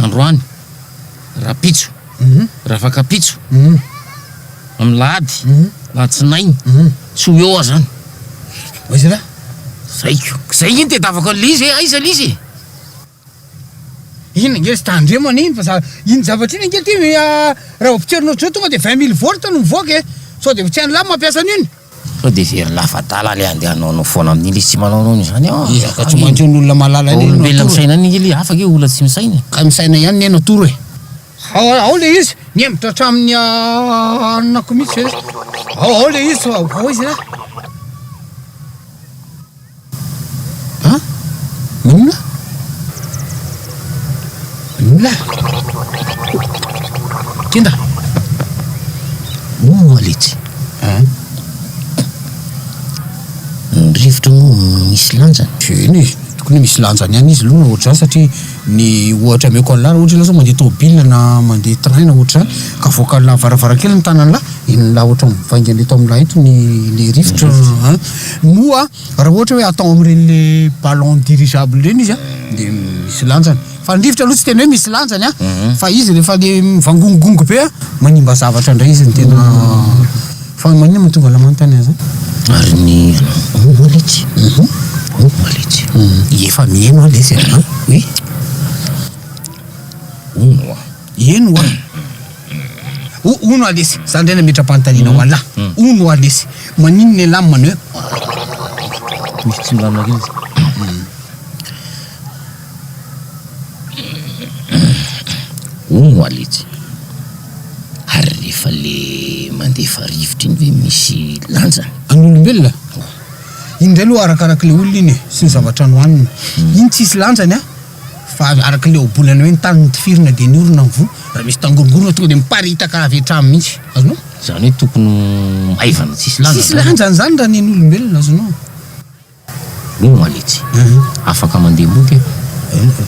Androany, rapitso, rafakapitso, amin'ny lahady, latsinainy, tsy ho eo aho zany. Aiza ra? Zaiko. Zay iny tedavako an'i Lizy e, aiza Lizy e? Iny ange ry Tandremo anie iny fa za, iny zavatra iny ange ty raha vao potserina ohatr'izao tonga de vingt mille volts no mivoaka e, sao de tsy an'lah mampiasa an'iny. Sao dia very lafadala ilay andeha hanao anao foana amin'iny izy tsy manao anao an'izany an! Ezaka tsy maintsy ny olona malala indray no atoro e! Vao olombelona misaina an'iny ilay hafa ange olona tsy misaina e! Ka misaina ihany ny aina atoro e! Ao ao ilay izy! Nihemotra hatramin'ny anonako mihitsy ve? Ao ao ilay izy! Ao ao izy ra! An? Inona? Inona? Kenda! Moa letsy. An? Ny rivotra moa misy lanjany? Eny e, tokony misy lanjany ihany izy aloha ohatr'izany satria. Ny ohatra ameko an'lah raha ohatra ianao zao mandeha tômôbila na mandeha train na ohatra izany ka voakan'lah varavarankeliny ny tanan'lah inon'lah ohatra mivaingana eto amin'lah eto ny le rivotra an! moa raha ohatra hoe atao amin'ireny le ballon dirigeable ireny izy an! dia misy lanjany fa ny rivotra aloha tsy tena hoe misy lanjany an! fa izy rehefa le mivangongongongo be an! manimba zavatra indray izy ny tena Fa maninona no tonga lamany tany aza? Ary ny anao? Oa letsy. Oa letsy. Efa mihaino aho letsy a. Oui. Hono oa. Eny oa. O, hono oa letsy. Za ndray nametram-panontaniana ho an'lah. Hono oa letsy. Maninona elah no manao hoe. Misy tsimbamina kely izy. Hono moa letsy, ary rehefa le mandefa rivotra iny ve misy lanjany? An'olombelona? Oh. Iny indray aloha arakaraky le olona iny e, sy ny zavatra nohaniny. Iny tsisy lanjany an! Fa araky le ohabolana hoe ny tany notifirina dia ny orona ny voa, raha misy tangorongorona tonga dia miparitaka avy hatrany mihitsy. Azonao? Izany hoe tokony ho maivana tsisy lanjany izany? Tsisy lanjany izany raha nen'olombelona, azonao? Hoe Moaletsy. Afaka mandeha moto iha. Henoko.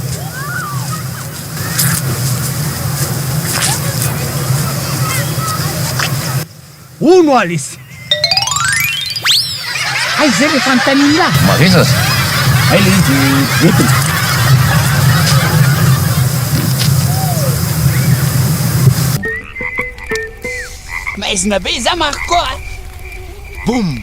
Hoy Moaletsy. Hay izay ilay fanontanian'i Ra. Mareza aza. Hay ilay izy dia entiny. Maizina be izaho Marco a! Boum!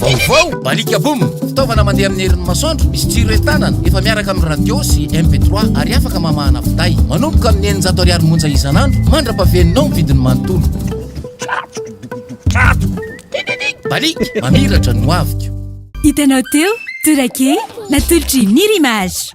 Vaovao, Balika Boom, fitaovana mandeha amin'ny herin'ny masoandro, misy jiro entanana, efa miaraka amin'ny radio sy MP3 ary afaka mamahana finday. Manomboka amin'ny eninjato ariary monja isan'andro mandra-pahaveninao ny vidiny manontolo. Balika, mamiratra ny hoaviko. Hitanao teo, Tourake, natolotry Nirimage.